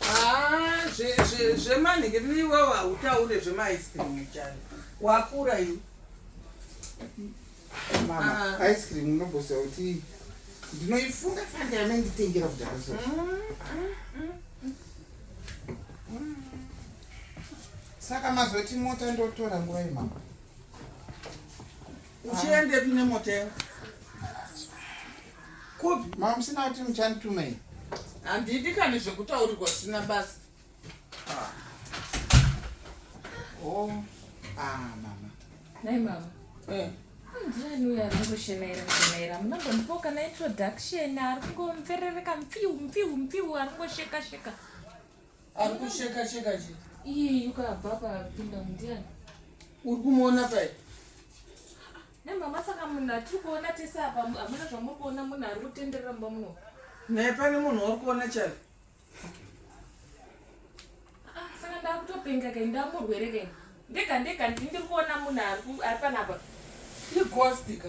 Ah, zvemanhingi zve, zve niwewo hautaure zvemaice cream chani wakura iwe mama ah. ice cream unobosa kuti ndinoifunga fanda yamenditengera kudhara so mm, mm, mm, saka mazoti mota ndotora nguva yemama uchiendepi nemota yako kupi mama musina kuti muchandituma iyi handidi kani zvekutaurirwa zvisina basa ah. o oh. ah, mama nai mama eh. ndirani uyo ari kungoshenaira kushenaira munambondipo kana introduction ari kungomverereka mpiu mpiu mpiu ari kungosheka sheka, sheka. Ari kusheka sheka chii? Iyi yuka abva papinda ndiani? Uri kumuona pai? Nemama saka munhu atiri kuona tese apa hamuna zvamuri kuona munhu ari kutenderera mumba muno. Naye pane munhu wauri kuona chari? Ah, saka ndakutopenga kai ndamurwere kai. Ndega ndega ndiri kuona munhu ari panapa. Ighost ka?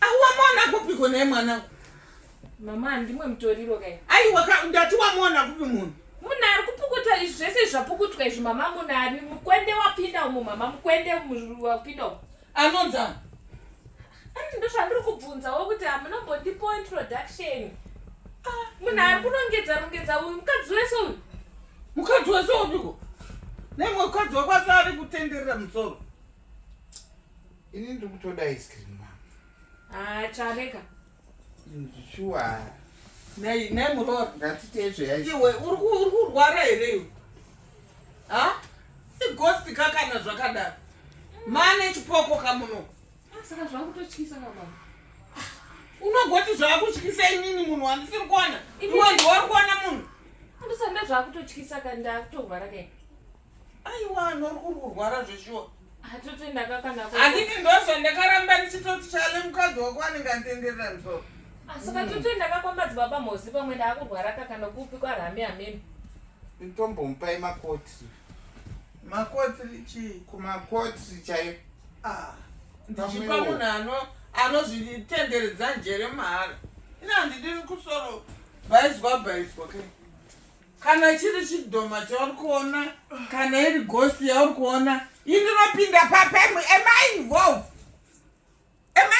Awamona kupiko naye mwana. Mama ndimwe mutoriro kai. Ai waka ndati wamona kupi munhu. Munhu ari kupukuta izvi zvese zvapukutwa izvi mama munhu ari mukwende wapinda umu mama mukwende wapinda umu. Anonza. Ani ndo zvandiri kubvunza wo kuti hamuna mbondipo introduction. Ah, munhu ari kunongedza rongedza uyu mukadzi wese uyu. Mukadzi wese uyu. Nemwe mukadzi wakwasa ari kutenderera musoro. Ini ndiri kutoda ice cream mama. Ah, chareka. Shuwa. Nei, nei muroora. Ngatite izvo yacho. Iwe uri uri kurwara here iwe? Ha? Igosti kakana zvakadaro. Mane chipoko kamuno. Ah, saka zvakutotyisa baba. Unogoti zvakutyisa inini munhu wandisiri kuona. Iwe ndiwe uri kuona munhu. Andisanda zvakutotyisa kandakutorwara kai. aiwa anori kuri kurwara zveshuwa handiti ndozva ndakaramba ndichitoti chale mukadzi wako anenge antenderera msoro asi katuti ndakakwamba dzibaba mozi pamwe ndaakurwara kakana kupi kwarami amene nditombomupai makoti makoti chii kumakoti chaiyo ah, ndichipa munhu ano anozvitenderedza njere mahara ina handidi kusoro bhaizwa bhaizwa kai kana chiri chidhoma chauri kuona kana iri gosi yauri kuona indinopinda papi am i involved am i